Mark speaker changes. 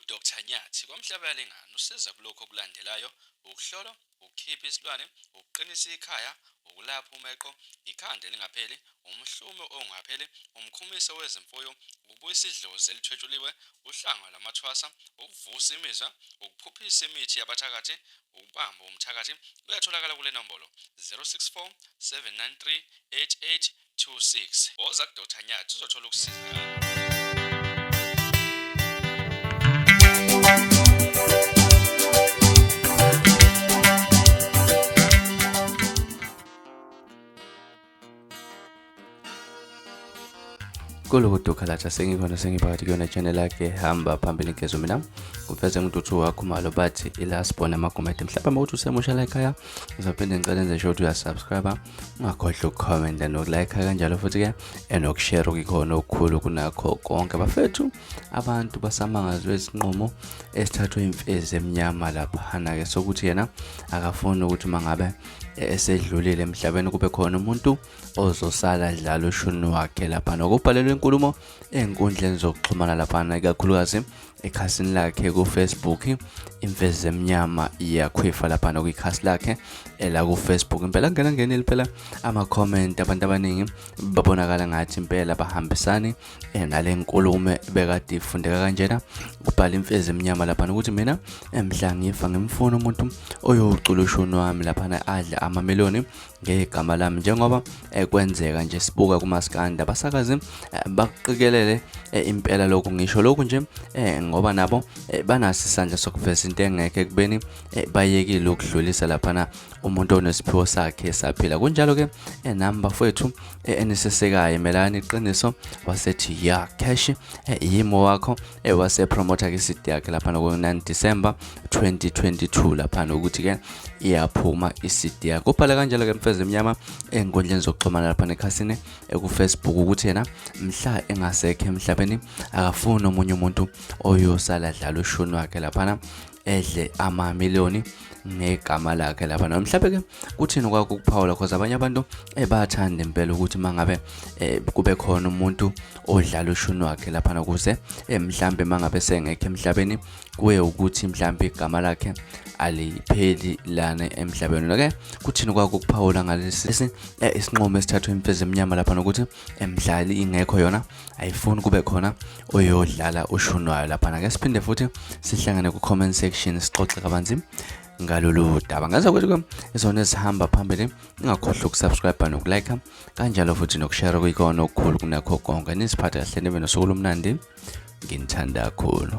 Speaker 1: uDr Nyathi kwamhlaba lengane usiza kulokho okulandelayo ukuhlolwa ukukhipha isilwane ukuqinisa ikhaya ukulapha umeqo ikhanda elingapheli umhlume ongapheli umkhumiso wezimfuyo ukubuyisa idlozi elithwetshuliwe uhlanga lwamathwasa ukuvusa imizwa ukuphuphisa imithi yabathakathi ukubamba umthakathi kuyatholakala kule nombolo 064 793 88 Woza ku Dr Nyathi uzothola ukusizakala.
Speaker 2: kuloko dokhalatha sengikhona sengiphakathi kuyona channel yakhe hamba phambili ngezo mina kuveze ngintuthu wakho malo bathi ilast bona amagumede mhlawumbe uma uthi usemusha la ekhaya ngizophinde ngicele nje sho ukuthi uyasubscribe ungakhohlwa ukukhomenta nokulayikha kanjalo futhi-ke enokushera okuyikhona okukhulu kunakho konke bafethu abantu basamangazwe isinqumo esithathwe imfezi emnyama laphana-ke sokuthi yena akafuni ukuthi mangabe esedlulile emhlabeni kube khona umuntu ozosala dlala ushuni wakhe lapha nokubhalelwa inkulumo ey'nkundleni zokuxhumana laphana ikakhulukazi ekhasini lakhe kufacebook imfezi emnyama iyakhwifa laphana kwikhasi lakhe elakufacebook impela ngena ngenile phela ama-comment abantu abaningi babonakala ngathi impela bahambisani eh, nale nkulume bekade ifundeka kanjena kubhala imfezi emnyama laphana ukuthi mina emhla ngifa ngimfuna umuntu oyowucula ushuni wami laphana adle amameloni ngegama lami njengoba eh, kwenzeka nje sibuka kumaskanda abasakazi eh, bakuqikelele eh, impela lokhu ngisho lokhu nje ngoba nabo banaso isandla sokuveza into engekho ekubeni bayekile ukudlulisa laphana umuntu onesiphiwo sakhe esaphila kunjalo ke nami bafowethu enisesekayo melani iqiniso wasethi ya cash yimo wakho ewasepromotha ke isidi yakhe laphana ku-9 December 2022 laphana ukuthi ke iyaphuma isidi yakhe ubhale kanjalo ke mfeze emnyama enkundleni zokuxhumana laphana ekhasini ekufacebook ukuthi yena mhla engasekho emhlabeni akafuni omunye umuntu oyosala dlala ushuni wakhe laphana edle amamiliyoni ngegama lakhe lapha no mhlawumbe ke kuthini kwakho ukuphawula cause abanye abantu ebathanda eh, impela ukuthi mangabe eh, kube khona umuntu odlala ushuni wakhe lapha nokuze eh, mhlawumbe mangabe sengekho emhlabeni kuye ukuthi mhlawumbe igama lakhe alipheli lana emhlabeni okay kuthini kwakho ukuphawula ngalesi isinqomo esithathwe imfezi emnyama lapha nokuthi emdlali ingekho yona ayifuni kube khona oyodlala ushunwayo lapha nake siphinde futhi sihlangane ku comment section sixoxe kabanzi ngalolu daba ngaze kwethu izona ezihamba phambili ingakhohlwa ukusubscribe nokulike kanjalo futhi nokushare kuyikona okukhulu kunakho konke nisiphathe kahle nibe nosuku lomnandi nginithanda kakhulu